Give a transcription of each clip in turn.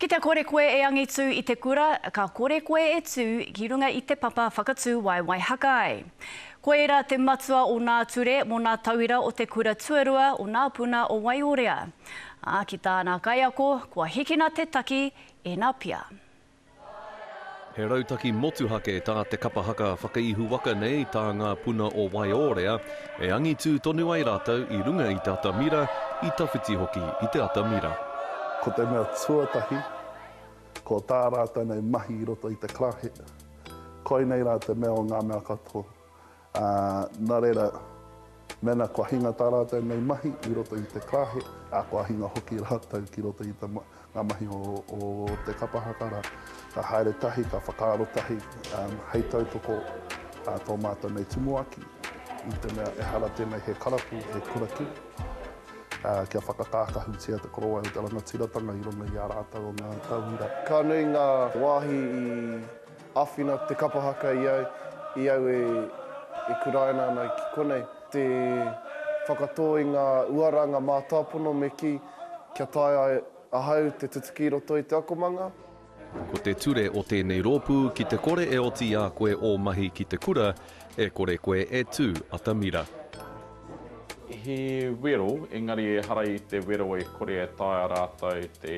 Ki te kore koe e angitu i te kura, ka kore koe e tū ki runga i te papa whakatū waewae haka ai. Koira te matua o nā ture mō nā tauira o te kura tuarua o nā puna o Waiorea. Ā, ki tāna kaiako, kua hikina te taki, ēna pia. He rautaki motuhake tā te kapa haka whakaihu waka nei tā ngā puna o Waiōrea, e angitū tonu ai rātou i runga i te atamira, i tawhiti hoki i te atamira. Ko te mea tuatahi, ko tā rātou nei mahi i roto i te Clarkhead, koinei rā te mea o ngā mea katoa. Ā, nā reira, mēnā kua hinga tā rātou nei mahi i roto i te kāhe, ā, kua hinga hoki rātou ki roto i ngā mahi o te kapa haka rā, ka haere tahi, ka whakaaro tahi, ā, hei tautoko ā tō mātou nei tumuaki, i te mea ehara tēnei he karapu e kura ki, ā, kia whakakākahutia te korowai o te rangatiratanga i runga i ā rātou o ngā tauira. Ka nui ngā wāhi i. Āwhina te kapa haka i au, i au e kuraina ana ki konei. Te whakatō i ngā uara, ngā mātāpono me kī, kia taea ai ahau te tutuki i roto i te akomanga. Ko te ture o tēnei rōpū ki te kore e oti i a koe ō mahi ki te kura, e kore koe e tū atamira. He wero, engari ehara i te wero e kore e taea rātou te.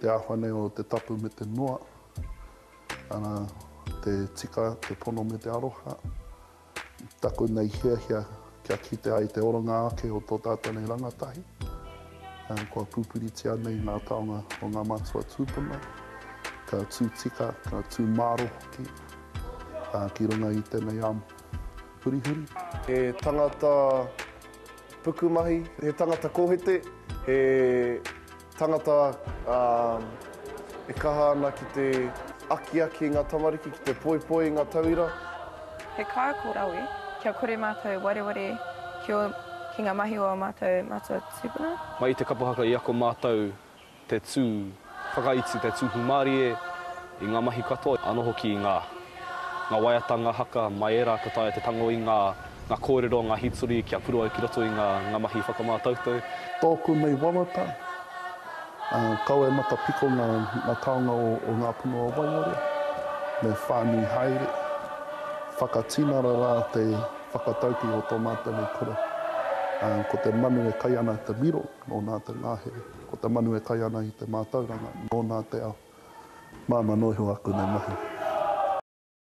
Te āhua nei o te tapu me te noa, ana, te tika, te pono me te aroha. Taku nei hiahia kia kite ai te oranga ake o tō tātou nei rangatahi, kua pupuritia nei ngā taonga o ngā mātua tūpuna, ka tū tika, ka tū māro hoki ki runga i tēnei ao hurihuri. He tangata. Pukumahi, he tangata kohete, he tangata e kaha ana ki te akiaki i ngā tamariki, ki te poipoi i ngā tauira. He kaiako rawe, kia kore mātou wareware ki ngā mahi o ā mātou matua tūpuna. Mai i te kapa haka i ako mātou te tū whakaiti, te tū hūmārie i ngā mahi katoa, anō hoki i ngā ngā waiata, ngā haka, mai ērā ka taea te tango i ngā ngā kōrero, ngā hītori kia puru ai ki roto i ngā ngā mahi whakamātautau. Tōku mei wawata, ā, kau e matapiko ngā ngā taonga o o ngā punua waiore, me whānui haere, whakatinana rā te whakataukī o tō mātou nei kura, ā, ko te manu e kai ana te miro. Nō nā te ngāhere, ko te manu e kai ana i te mātauranga, nō nā te ao. Māmā noa iho aku nei mahi.